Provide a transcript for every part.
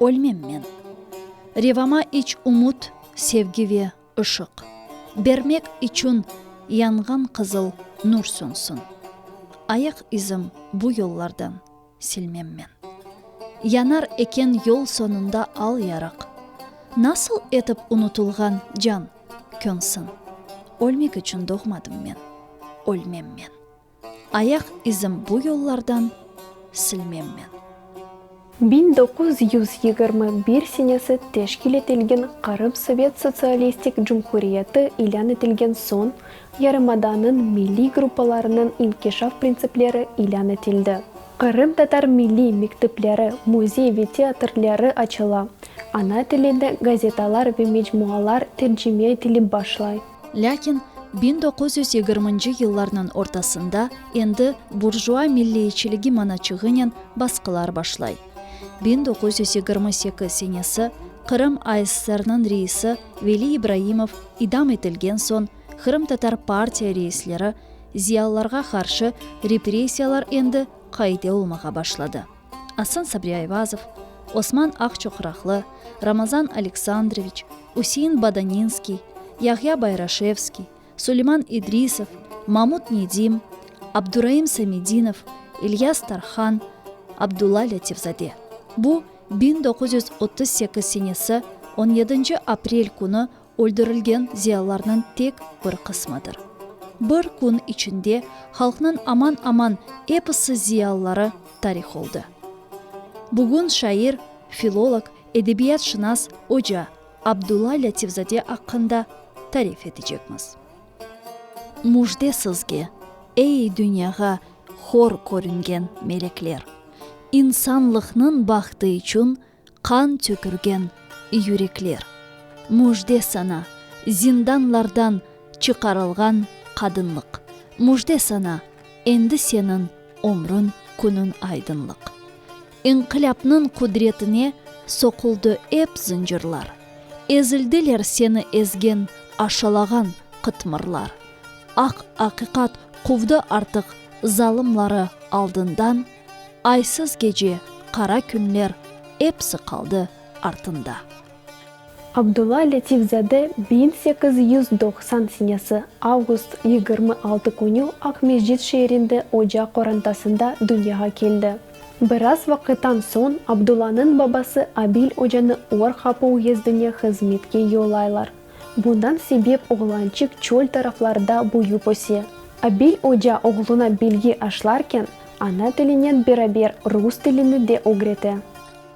Ölmem men. Revama iç ümüt, sevgi ve ışıq bermek içün yanğan qızıl nur sönsün. Ayaq izim bu yollardan silmem men. Yanar eken yol soñunda al yarıq. Nasıl etip unutılğan can, könsün? Ölmek içün doğmadım men. Ölmem men. Ayaq izim bu yollardan silmem men. Biñ doquz yüz yigirmi bir senesi teşkil etilgen Qırım Sovet Sotsialistik Cumhuriyeti ilân etilgen soñ, yarımadanıñ milliy gruppalarınıñ inkişaf printsipleri ilân etildi. Qırımtatar milliy mektepleri, müzey ve teatrleri açıla, ana tilinde gazetalar ve mecmualar tercime etilip başlay. Lâkin biñ doquz yüz yigirminci yıllarnıñ ortasında endi burjua milliyçiligi manaçığınen basqılar başlay. Biñ doquz yüz yigirmi sekiz senesi Qırım ASSRnıñ reisi Veli İbraimov idam etilgen soñ qırımtatar partiya reisleri, ziyalılarğa qarşı repressiyalar endi qaide olmağa başladı. Asan Sabri Ayvazov, Osman Aqçuqraqlı, Ramazan Aleksandroviç, Üsein Badaninskiy, Yahya Bayraşevskiy, Suleyman İdrisov, Mamut Nedim, Abduraim Samedinov, İlyas Tarhan, Abdulla Lâtifzade. Bu, biñ doquz yüz otuz sekiz senesi on yedinci aprel künü öldürilgen ziyalılarnıñ tek bir qısmıdır. Bir kün içinde halqnıñ aman-aman episi ziyalıları tarih oldı. Bugün şair, filolog, edebiyatşınas oca Abdulla Lâtifzade aqqında tarif etecekmiz. Müjde sizge, ey dünyağa hor körüngen melekler! İnsanlıqnıñ bahtı içün Qan tökülgen yürekler. Müjde saña, zindanlardan çıqarılğan qadınlıq. Müjde saña, endi seniñ ömrüñ, künüñ aydınlıq. İnqilâpnıñ qudretine soquldı ep zıncırlar. Ezildiler seni ezgen, aşalağan qıtmırlar. Aq aqiqat quvdı artıq zalımları aldından. Aysız gece, qara künler, epsi qaldı artında. Abdulla Letifzade biñ sekiz yüz doqsan senesi avgust yigirmi altı künü Aqmescit şeerinde oca qorantasında dünyağa keldi. Biraz vaqıttan soñ Abdullanıñ babası Abil ocanı Or-Hapu uyezdine hızmetke yollaylar. Bundan sebep oğlançik çöl taraflarda büyüp öse. Abil oca oğluna bilgi aşlarken, ana tilinen beraber rus tilini de ögrete.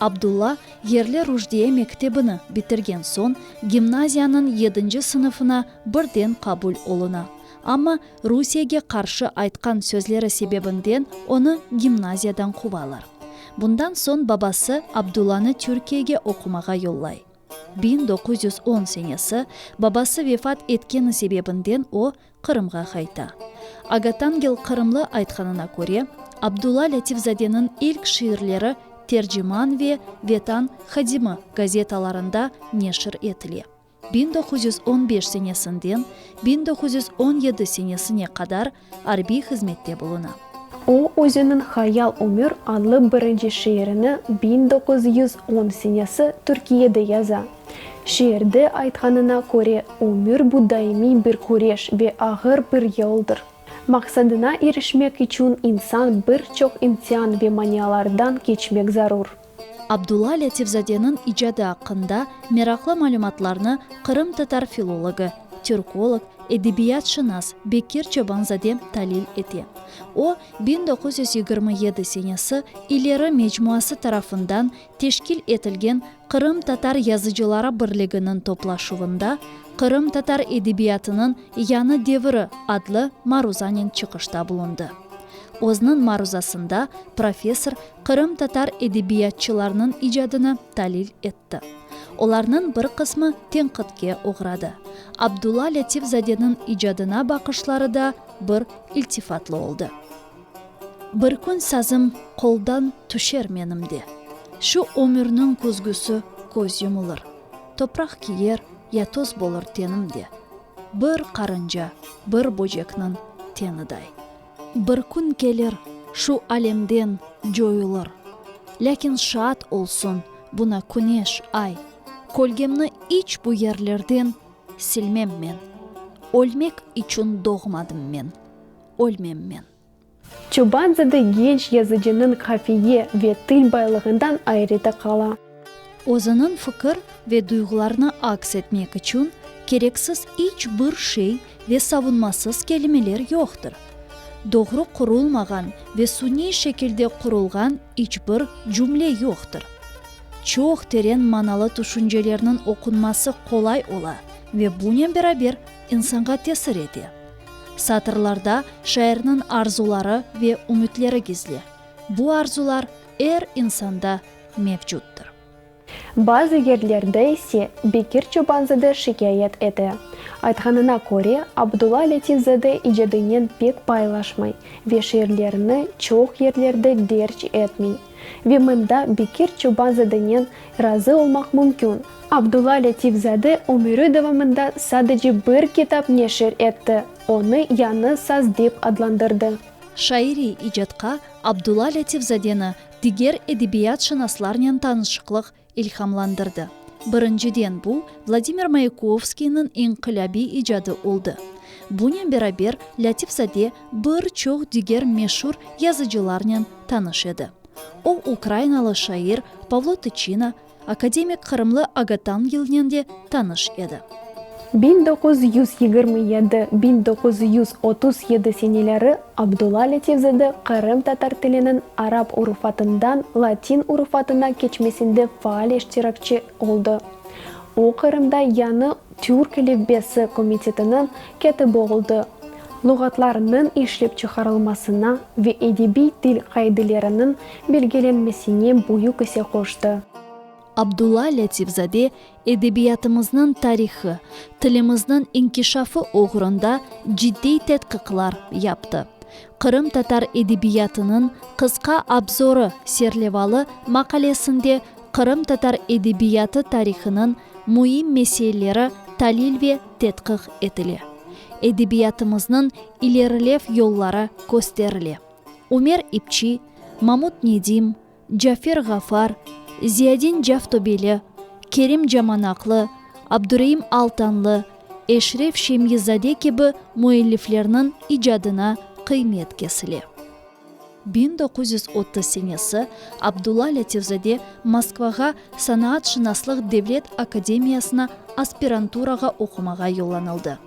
Abdulla, yerli Rujdiye mektebini bitirgen soñ, gimnaziyanıñ yedinci sınıfına birden qabul oluna. Amma Rusiyege qarşı aytqan sözleri sebebinden onı gimnaziyadan quvalar. Bundan soñ babası Abdullanı Türkiyege oqumağa yollay. Biñ doquz yüz on senesi, babası vefat etkeni sebebinden o, Qırımğa qayta. Agatangel Qırımlı aytqanına köre, Abdulla Lâtifzadeniñ ilk şiirleri Terciman ve Vetan hadimi gazetalarında neşir etile. Biñ doquz yüz on beş senesinden biñ doquz yüz on yedi senesine qadar arbiy hızmette buluna. O, özüniñ Hayal ömür adlı birinci şiirini biñ doquz yüz on senesi Türkiyede yaza. Şiirde aytqanına köre, ömür bu daimiy bir küreş ve ağır bir yoldır. Maqsadına irişmek içün insan bir çoq imtian ve manialardan keçmek zarur. Abdulla Lâtifzadeniñ icadı aqqında meraqlı malümatlarnı qırımtatar filologi, türkolog, edebiyatşınas Bekir Çobanzade talil ete. O, biñ doquz yüz yigirmi yedi senesi İleri mecmuası tarafından teşkil etilgen Qırımtatar Yazıcıları Birliginiñ toplaşuvında Qırımtatar edebiyatınıñ yañı deviri adlı maruzanen çıqışta bulundı. Özniñ maruzasında professor qırımtatar edebiyatçılarnıñ icadını talil etti. Olarnıñ bir qısmı tenqitke oğradı. Abdulla Lâtifzadeniñ icadına baqışları da bir iltifatlı oldı. Bir kün sazım qoldan tüşer menim de, Şu ömürniñ küzgüsi köz yumulır, Topraq kiyer ya toz bolur tenim de, Bir qarınca, bir böcekniñ teniday. Bir kün kelir, şu alemden coyulır. Lâkin şaat olsun buna küneş, ay, Kölgemni iç bu yerlerden silmem men. Ölmek içün doğmadım men, ölmem men. Çobanzade genç yazıcınıñ qafiye ve til baylığından ayrıta qala. Özüniñ fikir ve duyğularını aks etmek içün kereksiz iç bir şey ve savunmasız kelimeler yoqtır. Doğru qurulmağan ve suniy şekilde qurulğan iç bir cümle yoqtır. Çoq teren manalı tüşüncelerniñ oqunması qolay ola ve bunen beraber insanğa tesir ete. Satırlarda şairniñ arzuları ve ümütleri gizli. Bu arzular. er insanda mevcutdır. Bazı yerlerde ise Bekir Çobanzade şikâyet ete. Aytqanına köre, Abdulla Lâtifzade icadınen pek paylaşmay ve şiirlerini çoq yerlerde derc etmey. Ve mında Bekir Çobanzadenen razı olmaq mümkün. Abdulla Lâtifzade ömüri devamında sadece bir kitap neşir etti, onı yañı saz dep adlandırdı. Şairiy icatqa Abdulla Lâtifzadeni diger edebiyatşınaslarnen tanışıqlıq ilhamlandırdı. Birinciden, bu, Vladimir Mayakovskiyniñ inqilâbiy icadı oldı. Bunen beraber, Lâtifzade bir çoq diger meşur yazıcılarnen tanış edi. O, ukrainalı şair Pavlo Tıçina, Akademik qırımlı Aga Tangilnen de tanış edi. Biñ doquz yüz yigirmi yedi, biñ doquz yüz otuz yedi seneleri Abdulla Lâtifzade Qırım tatar tiliniñ arap urufatından latin urufatına keçmesinde faal iştirakçi oldı. O Qırımda yañı Türk elifbesi komitetiniñ kâtibi oldı, luğatlarnıñ işlep çıqarılmasına ve edebiy til qaideleriniñ belgilenmesine büyük ise qoştı. Abdulla Lâtifzade edebiyatımıznıñ tarihı, tilimizniñ inkişafı oğrunda ciddiy tedqiqlar yaptı. Qırımtatar edebiyatınıñ qısqa abzorı serlevalı maqalesinde qırımtatar edebiyatı tarihınıñ müim meseileri talil ve tedqiq etile, edebiyatımıznıñ ilerilev yolları kösterile. Ümer İpçi, Mamut Nedim, Cafer Ğafar, Ziyadin Caftobeli, Kerim Camanaqlı, Abdureim Altanlı, Eşref Şemyizade kibi müelliflerniñ icadına qıymet kesile. Biñ doquz yüz otuz senesi Abdulla Lâtifzade Moskvağa Sanaatşınaslıq devlet akademiyasına aspiranturağa oqumağa yollanıldı.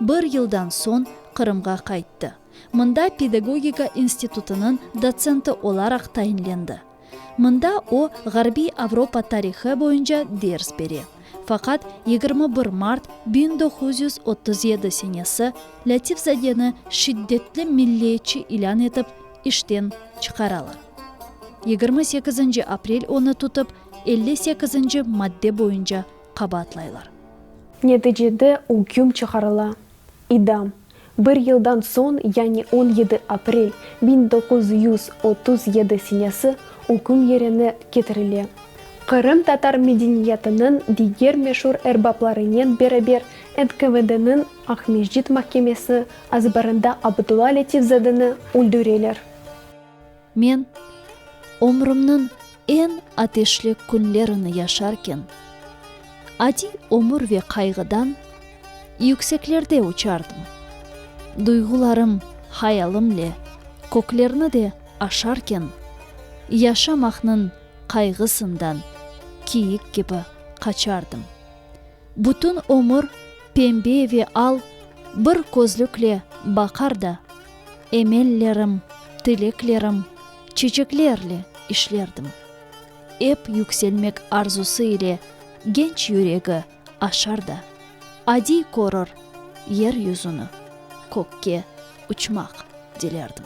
Bir yıldan soñ Qırımğa qayttı. Mında pedagogika institutınıñ dotsenti olaraq tayinlendi. Mında o, Ğarbiy Avropa tarihı boyunca ders bere. Faqat yigirmi bir mart biñ doquz yüz otuz yedi senesi Lâtifzadeni şiddetli milliyetçi ilân etip, işten çıqaralar. Yigirmi sekizinci aprel onı tutıp, elli sekizinci madde boyunca qabaatlaylar. Neticede üküm çıqarıla, idam. Bir yıldan soñ, yani on yedi aprel biñ doquz yüz otuz yedi senesi üküm yerine ketirile. Qırımtatar medeniyetiniñ diger meşur erbaplarınen beraber NKVDniñ Aqmescit mahkemesi azbarında Abdulla Letifzadeni öldüreler. Men ömrümniñ eñ ateşli künlerini yaşarken, adiy ömür ve qayğıdan yükseklerde uçardım. Duyğularım, hayalimle köklerni de aşarken, yaşamaqnıñ qayğısından kiyik kibi qaçardım. Bütün ömür pembe ve al bir közlükle baqar da, emellerim, tileklerim çeçeklerle işlerdim. Ep yükselmek arzusı ile genç yüregi aşar da, adiy körür yer yüzüni, kökke uçmaq dilerdim.